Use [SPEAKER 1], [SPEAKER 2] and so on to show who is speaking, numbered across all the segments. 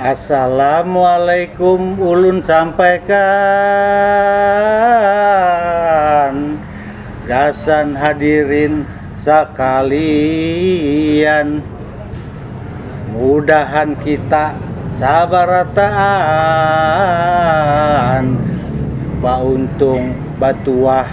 [SPEAKER 1] Assalamualaikum ulun sampaikan gasan hadirin sakalian mudahan kita sabarataan bauntung batuah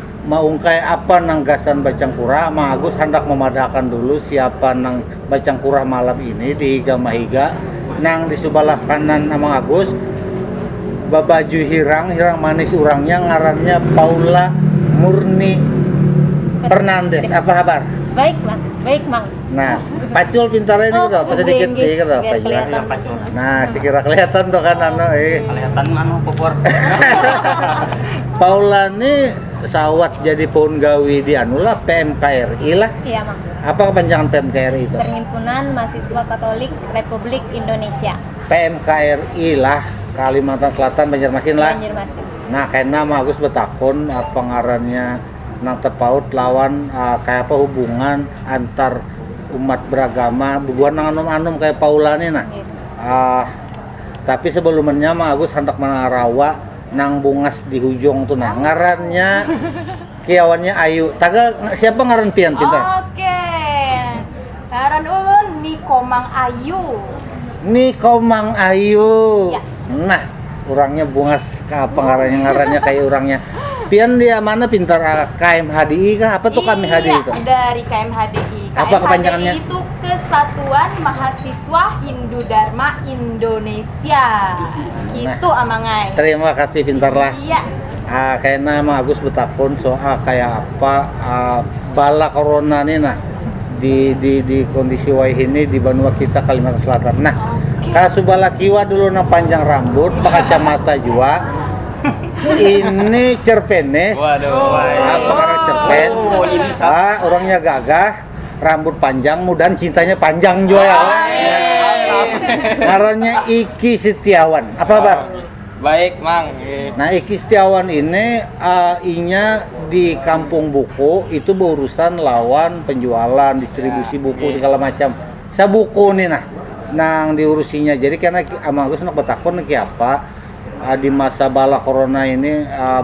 [SPEAKER 1] maungkai apa nang gasan bacangkura, Mang Agus handak mamadahakan dulu siapa nang bacangkura malam ini di higa mahiga nang di subalah kanan Amang Agus babaju hirang, hirang manis urangnya ngarannya Paula Murni Fernandes, apa habar? Baik Mang,
[SPEAKER 2] baik Mang. Nah,
[SPEAKER 1] pacul pintarnya ini oh, sedikit nih gitu apa ya. Nah, sekira kelihatan tuh kan anu eh. Kelihatan anu
[SPEAKER 3] popor.
[SPEAKER 1] Paula nih sawat jadi pohon gawi di anu lah PMKRI lah. Iya, Mang. Apa
[SPEAKER 2] kepanjangan PMKRI
[SPEAKER 1] itu? Perhimpunan Mahasiswa
[SPEAKER 2] Katolik Republik Indonesia. PMKRI
[SPEAKER 1] lah Kalimantan Selatan Banjarmasin lah. Banjarmasin.
[SPEAKER 2] Nah, karena
[SPEAKER 1] Agus betakun apa ngarannya nang tapaut lawan uh, kaya apa hubungan antar umat beragama bubuhan nang anum-anum kaya Paula ni nah. Iya. Uh, tapi sebelumnya mah Agus handak manarawa nang bungas di hujung tu nah. Ngarannya kiawannya Ayu. Taga siapa ngaran pian pintar? Oke.
[SPEAKER 4] Ngaran ulun Niko Mang Ayu. Niko
[SPEAKER 1] Mang Ayu. Ya. Nah,
[SPEAKER 4] urangnya
[SPEAKER 1] bungas apa ngarannya ngarannya kayak urangnya. Pian dia mana pintar ah, KMHDI kah? Apa tuh KMHDI iya, itu? dari KMHDI.
[SPEAKER 4] Apa kepanjangannya?
[SPEAKER 1] itu Kesatuan
[SPEAKER 4] Mahasiswa Hindu Dharma Indonesia. Gitu nah. amangai. Terima kasih pintarlah.
[SPEAKER 1] Iya. Ah,
[SPEAKER 4] kayaknya
[SPEAKER 1] Mang Agus betakun soal kayak apa ah, bala corona nih nah. di di di kondisi wayah ini di Banua kita Kalimantan Selatan. Nah, okay. kalau subalah kiwa dulu nang panjang rambut, mata jua. ini cerpenes. Waduh.
[SPEAKER 5] Apa karena
[SPEAKER 1] cerpen? Oh, ini ah, orangnya gagah, rambut panjang, mudah cintanya panjang juga ya. Karena Iki Setiawan. Apa kabar? Baik, Mang.
[SPEAKER 5] Nah, Iki
[SPEAKER 1] Setiawan ini uh, inya di kampung buku itu berurusan lawan penjualan, distribusi ya, buku okay. segala macam. Sabuku nih nah nang diurusinya. Jadi karena Amang Agus nak bertakun ki apa uh, di masa bala corona ini uh,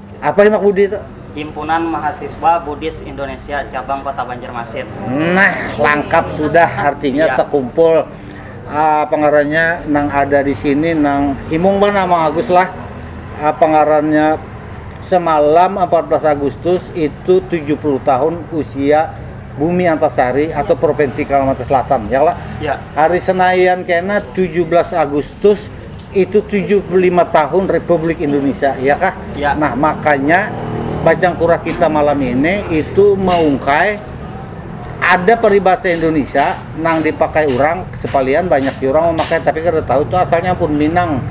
[SPEAKER 3] Apa Himak Budi
[SPEAKER 1] itu? Himpunan Mahasiswa
[SPEAKER 3] Buddhis Indonesia Cabang Kota Banjarmasin. Nah,
[SPEAKER 1] langkap sudah artinya ya. terkumpul uh, pengarannya nang ada di sini nang himung mana Mang Agus lah. Uh, ah, pengarannya semalam 14 Agustus itu 70 tahun usia Bumi Antasari atau Provinsi Kalimantan Selatan ya lah. Ya. Hari
[SPEAKER 3] Senayan
[SPEAKER 1] kena 17 Agustus Itu tujuh puluh lima tahun Republik Indonesia, ya kah? Ya. Nah, makanya bacang kurah kita malam ini itu meungkai ada peribahasa Indonesia nang dipakai orang sepalian banyak di orang memakai tapi kada tahu itu asalnya pun Minang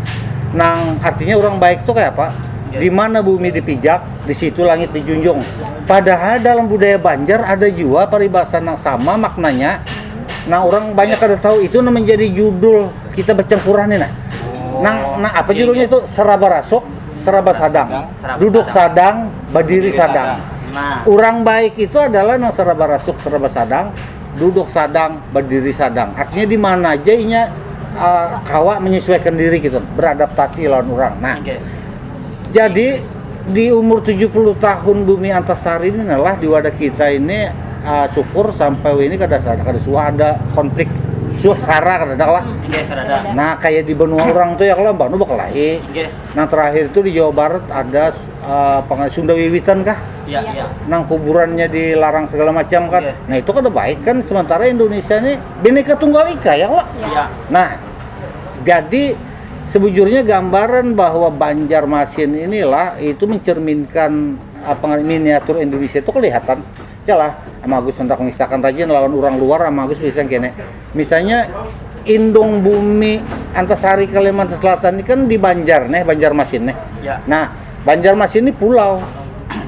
[SPEAKER 1] nang artinya orang baik tuh kayak apa ya. di mana bumi dipijak di situ langit dijunjung padahal dalam budaya Banjar ada juga peribahasa nang sama maknanya nah orang banyak kada tahu itu menjadi judul kita bercampuran ini nah. Oh, nang nang apa iya, judulnya iya. itu seraba rasuk, seraba sadang. Seraba Duduk sadang, sadang berdiri sadang. sadang. Nah. Orang
[SPEAKER 3] baik itu
[SPEAKER 1] adalah nang seraba rasuk, seraba sadang, duduk sadang, berdiri sadang. Artinya di mana aja inya uh, kawa menyesuaikan diri gitu, beradaptasi lawan orang. Nah. Okay.
[SPEAKER 3] Jadi
[SPEAKER 1] Di umur tujuh puluh tahun bumi antasari ini nah lah di wadah kita ini uh, syukur sampai ini kada kada suah ada konflik suah sara kada ada lah. Nah
[SPEAKER 3] kayak di benua
[SPEAKER 1] orang tuh ya kalau banu bakelahi. Nah terakhir
[SPEAKER 3] tuh di
[SPEAKER 1] Jawa Barat ada uh, eh, Sunda Wiwitan kah? Ya, ya. Nang
[SPEAKER 3] kuburannya
[SPEAKER 1] dilarang segala macam kan. Ya. Nah itu kada baik
[SPEAKER 3] kan.
[SPEAKER 1] Sementara Indonesia ini bineka tunggal ika ya kalau. Ya. Nah jadi sebujurnya gambaran bahwa Banjarmasin inilah itu mencerminkan apa ngaran miniatur Indonesia itu kelihatan lah sama Agus hendak mengisahkan rajin lawan orang luar sama Agus bisa kene misalnya indung bumi antasari Kalimantan Selatan ini kan di Banjar neh Banjarmasin neh ya. nah
[SPEAKER 3] Banjarmasin
[SPEAKER 1] ini pulau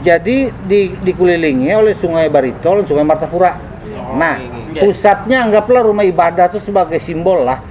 [SPEAKER 1] jadi di, dikelilingi oleh sungai Baritol sungai Martapura oh, nah iya. pusatnya anggaplah rumah ibadah itu sebagai simbol lah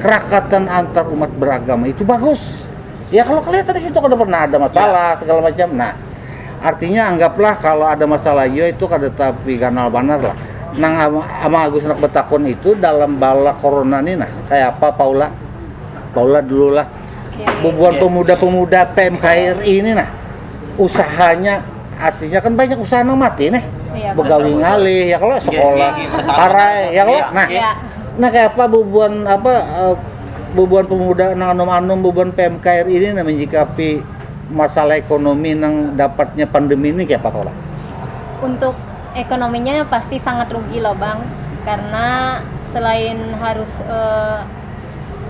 [SPEAKER 1] kerakatan antar umat beragama itu bagus. Ya kalau kelihatan di situ kada pernah ada masalah ya. segala macam. Nah, artinya anggaplah kalau ada masalah yo itu kada tapi ganal banar lah. Nang ama Agus nak betakun itu dalam bala corona ni nah kayak apa Paula? Paula dulu lah. Bubuhan pemuda-pemuda PMKRI ini nah usahanya artinya kan banyak usaha nang mati nih Iya, begawi betul. ngalih
[SPEAKER 4] ya
[SPEAKER 1] kalau sekolah Iya, iya, iya. parai
[SPEAKER 5] ya kalau Iya, nah
[SPEAKER 1] iya.
[SPEAKER 3] nah
[SPEAKER 1] kayak apa bubuhan apa eh, bubuhan pemuda nang anum-anum bubuhan PMKR ini nang menyikapi masalah ekonomi nang dapatnya pandemi ini kayak apa kalau untuk
[SPEAKER 2] ekonominya pasti sangat rugi loh bang karena selain harus eh,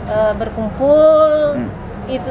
[SPEAKER 2] eh, berkumpul Hmm. itu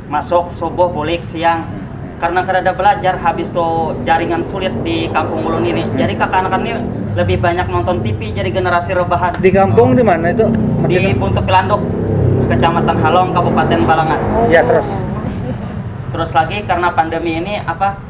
[SPEAKER 3] Masuk, subuh, bulik, siang. Karena kadada balajar, habis tu jaringan sulit di kampung ulun ini. Jadi kakanakan ni lebih banyak nonton tipi jadi generasi rebahan. Di kampung di mana
[SPEAKER 1] itu? Di Buntut Pilanduk,
[SPEAKER 3] Kecamatan Halong, Kabupaten Balangan. Ya terus. Terus lagi karena pandemi ini apa?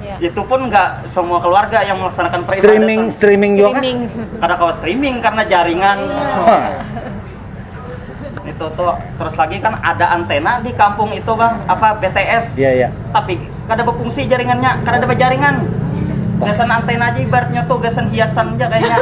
[SPEAKER 3] Yeah. Itu pun nggak semua keluarga yang melaksanakan peribadatan. Streaming, streaming juga kan? streaming.
[SPEAKER 1] kan? Karena kalau streaming
[SPEAKER 3] karena jaringan. Yeah. itu tuh terus lagi kan ada antena di kampung itu bang apa BTS. Iya yeah, iya. Yeah. Tapi
[SPEAKER 1] kada
[SPEAKER 3] berfungsi jaringannya, kada ada jaringan. Gasan antena aja ibaratnya tuh gasan hiasan aja kayaknya.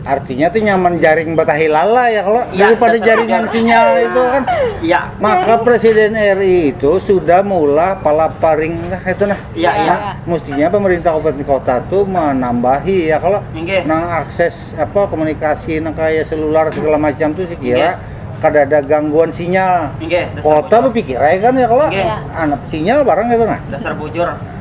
[SPEAKER 3] artinya
[SPEAKER 1] tuh nyaman jaring batahi lala ya kalau ya, daripada jaringan sinyal ya. itu kan ya. maka
[SPEAKER 3] presiden
[SPEAKER 1] RI itu sudah mula pala paring nah, itu nah ya, ya. nah mestinya
[SPEAKER 3] pemerintah
[SPEAKER 1] kabupaten kota tuh menambahi ya kalau okay. nang akses apa komunikasi nang kayak selular segala macam tuh sih kira okay kada ada gangguan sinyal. Inge, kota berpikir ya kan ya kalau okay. anak sinyal barang itu nah. Dasar bujur.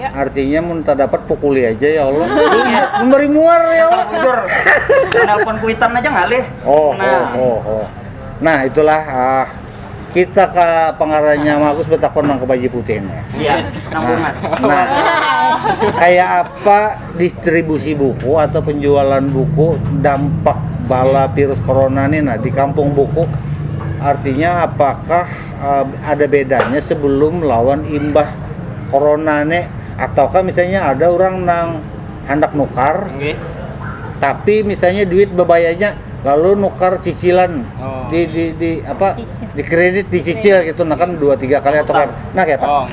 [SPEAKER 1] Ya. Artinya
[SPEAKER 4] mun tak dapat
[SPEAKER 1] pukuli aja ya Allah. Iya. Memberi muar ya Allah. Jujur.
[SPEAKER 3] Menelpon kuitan aja ngalih. Oh, nah. oh, oh, oh.
[SPEAKER 1] Nah, itulah ah, kita ke pengarahnya Magus betakon nang ke baju putih ini. Iya,
[SPEAKER 3] nang nah, bungas.
[SPEAKER 1] Nah, kayak apa distribusi buku atau penjualan buku dampak bala virus corona ini nah di kampung buku artinya apakah uh, ada bedanya sebelum lawan imbah corona ne ataukah misalnya ada orang nang hendak nukar okay.
[SPEAKER 5] tapi
[SPEAKER 1] misalnya duit bebayanya lalu nukar cicilan oh. di, di di apa Cicil. di kredit
[SPEAKER 2] dicicil
[SPEAKER 1] gitu nah kan dua tiga kali atau kan nah kayak oh.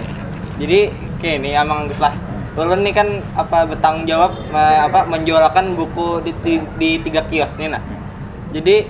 [SPEAKER 1] jadi
[SPEAKER 5] kayak ini emang lah ulun nih kan apa bertanggung jawab apa menjualkan buku di, di, di tiga kios nih nah jadi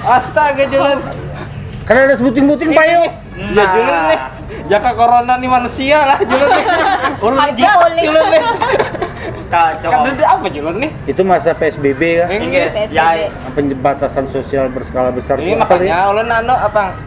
[SPEAKER 5] Astaga Julen. Karena ada
[SPEAKER 1] sebuting-buting payu. Ya Julen nih.
[SPEAKER 5] Jaka corona nih manusia lah Julen nih. Orang Ada jitak boleh. Julen
[SPEAKER 2] nih.
[SPEAKER 5] Kacau.
[SPEAKER 3] Kan ada apa
[SPEAKER 5] Julen nih? Itu masa PSBB
[SPEAKER 1] ya. Ini Iya. PSBB.
[SPEAKER 2] Pembatasan
[SPEAKER 3] sosial
[SPEAKER 1] berskala besar Ini tuh apa, Li? makanya ulun anu apa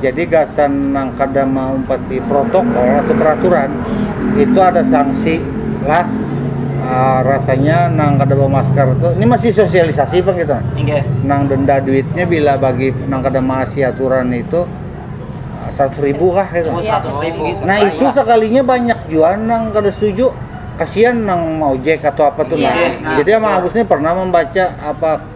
[SPEAKER 1] jadi gasan nang kada maumpati protokol atau peraturan itu ada sanksi lah uh, rasanya nang kada bawa masker itu ini masih sosialisasi pak gitu okay. nang denda
[SPEAKER 3] duitnya
[SPEAKER 1] bila bagi nang kada maasi aturan itu ah, seratus ribu kah gitu. Oh, ribu. Nah
[SPEAKER 2] itu
[SPEAKER 3] sekalinya
[SPEAKER 1] banyak juga nang kada setuju kasihan nang mau jack atau apa tuh yeah. nah. Iya. Jadi sama Agus
[SPEAKER 2] ini
[SPEAKER 1] pernah membaca apa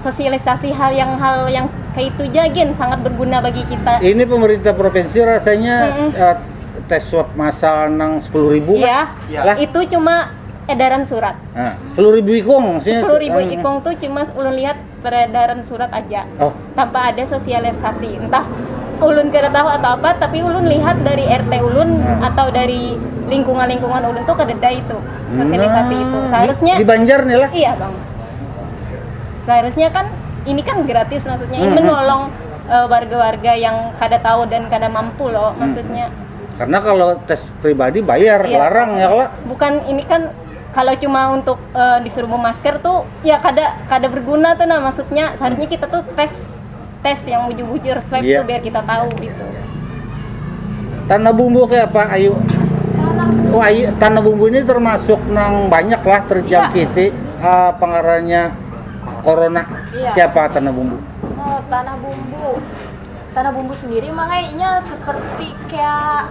[SPEAKER 2] sosialisasi hal yang hal yang kayak itu aja gin sangat berguna bagi kita ini pemerintah provinsi
[SPEAKER 1] rasanya mm -mm. Uh, tes swab masal nang sepuluh ribu ya, ya. Lah.
[SPEAKER 2] itu cuma edaran surat nah, sepuluh ribu
[SPEAKER 1] ikung maksudnya sepuluh ribu um, ikung tuh cuma
[SPEAKER 2] ulun lihat peredaran surat aja oh. tanpa ada sosialisasi entah ulun kada tahu atau apa tapi ulun lihat dari RT ulun nah. atau dari lingkungan-lingkungan ulun tuh kededa itu sosialisasi nah. itu seharusnya di, di Banjar nih lah iya
[SPEAKER 1] bang
[SPEAKER 2] seharusnya kan ini kan gratis maksudnya ini hmm, hmm. menolong eh, warga-warga uh, yang kada tahu dan kada mampu loh hmm, maksudnya hmm. karena kalau
[SPEAKER 1] tes pribadi bayar iya. larang ya kalau
[SPEAKER 2] bukan
[SPEAKER 1] ini kan
[SPEAKER 2] kalau cuma untuk uh, disuruh memasker tuh ya kada kada berguna tuh nah maksudnya seharusnya kita tuh tes tes yang bujur-bujur
[SPEAKER 1] swab yeah. tuh biar kita tahu gitu tanah bumbu kayak apa ayu oh ayu tanah bumbu ini termasuk nang banyak lah terjangkiti yeah. Iya. uh, pengaruhnya corona yeah. kayak apa
[SPEAKER 4] tanah bumbu oh tanah bumbu tanah bumbu sendiri makanya seperti kayak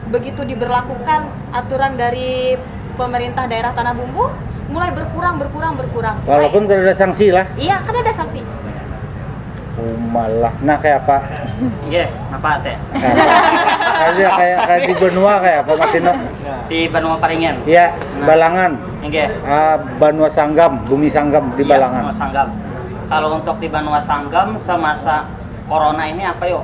[SPEAKER 4] Begitu diberlakukan aturan dari pemerintah daerah Tanah Bumbu, mulai berkurang, berkurang, berkurang. Walaupun
[SPEAKER 1] kadada sangsi lah? Iya, kadada sangsi.
[SPEAKER 4] Kumalah.
[SPEAKER 1] Nah, kaya apa? Nggih, napa
[SPEAKER 3] te? Kaya,
[SPEAKER 1] kaya, kaya di benua kaya apa masih no? Di Banua
[SPEAKER 3] Paringin. Iya, Nah. Balangan.
[SPEAKER 1] Nggih. Ah,
[SPEAKER 3] Banua
[SPEAKER 1] Sanggam, Bumi Sanggam di Iya, Balangan. Banua Sanggam.
[SPEAKER 3] Kalau untuk di Banua Sanggam semasa corona ini apa yuk?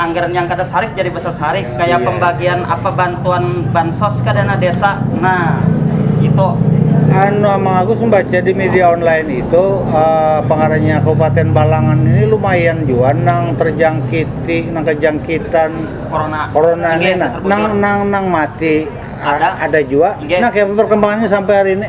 [SPEAKER 3] Anggaran yang kada sarik jadi basasarik kaya yeah. pembagian
[SPEAKER 1] apa
[SPEAKER 3] bantuan bansos ke dana desa. Nah, itu anu
[SPEAKER 1] Amang Agus membaca di media online itu uh, pengarangnya Kabupaten Balangan ini lumayan juga nang terjangkiti nang kejangkitan corona corona ini nah, nang nang nang
[SPEAKER 3] mati
[SPEAKER 1] ada ada juga nah kayak perkembangannya sampai hari ini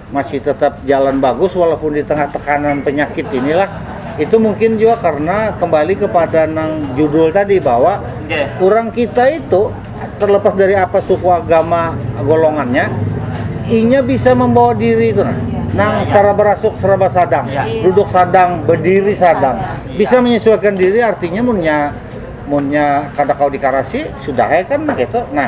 [SPEAKER 1] masih tetap jalan bagus walaupun di tengah tekanan penyakit inilah itu mungkin juga karena kembali kepada nang judul tadi bahwa okay. orang
[SPEAKER 3] kita itu
[SPEAKER 1] terlepas dari apa suku agama golongannya inya bisa membawa diri itu nah nang secara berasuk serba sadang ya. duduk sadang berdiri sadang bisa menyesuaikan diri artinya munnya munnya kada kau dikarasi sudah ya kan nah gitu nah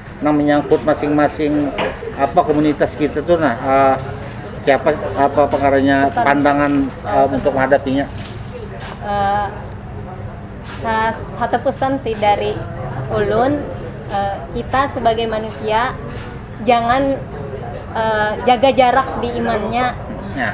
[SPEAKER 1] nang menyangkut masing-masing apa komunitas kita tuh nah uh, siapa apa pengarahnya pandangan uh, untuk menghadapinya uh,
[SPEAKER 2] satu pesan sih dari ulun uh, kita sebagai manusia jangan uh, jaga jarak di imannya nah.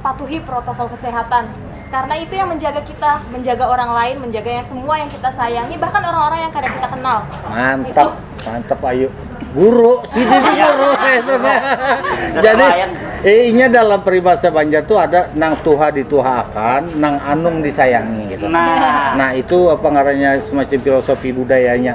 [SPEAKER 4] patuhi protokol kesehatan karena itu yang menjaga kita menjaga orang lain menjaga yang semua yang kita sayangi bahkan orang-orang yang kada kita kenal mantap
[SPEAKER 1] mantap ayu guru si iya. guru itu iya. jadi eh, inya dalam peribahasa Banjar tuh ada nang tuha dituhakan nang anung disayangi gitu nah, nah itu apa ngarannya semacam filosofi budayanya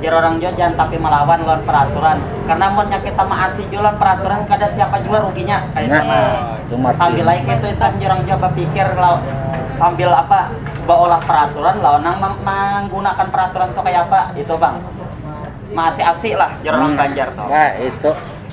[SPEAKER 1] Jar orang jua
[SPEAKER 3] jangan tapi malawan lawan peraturan karena amunnya kita maasi jua lawan peraturan kada siapa jua ruginya kaitu
[SPEAKER 1] nah
[SPEAKER 3] sambil ai
[SPEAKER 1] kaitu istilahnya
[SPEAKER 3] jar orang jua bapikir sambil apa baolah peraturan lawan nang manggunakan peraturan tu kaya apa itu pang maasi asi lah jar orang banjar tu.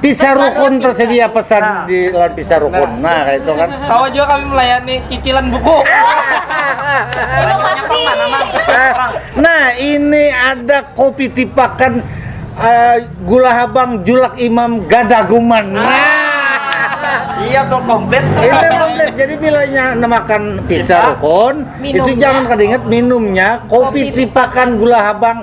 [SPEAKER 5] Pizza
[SPEAKER 3] Rukun
[SPEAKER 1] tersedia pesan nah. di lawan Pizza Rukun. Nah, nah kayak itu kan. Tahu juga kami melayani
[SPEAKER 5] cicilan buku. Inovasi.
[SPEAKER 1] nah, ini ada kopi tipakan uh, gula habang julak imam gadaguman. Nah. nah.
[SPEAKER 3] Iya tuh komplit. Itu komplit. Jadi
[SPEAKER 1] bilanya nemakan pizza rukun, itu jangan kadinget
[SPEAKER 4] minumnya
[SPEAKER 1] kopi, kopi tipakan gula habang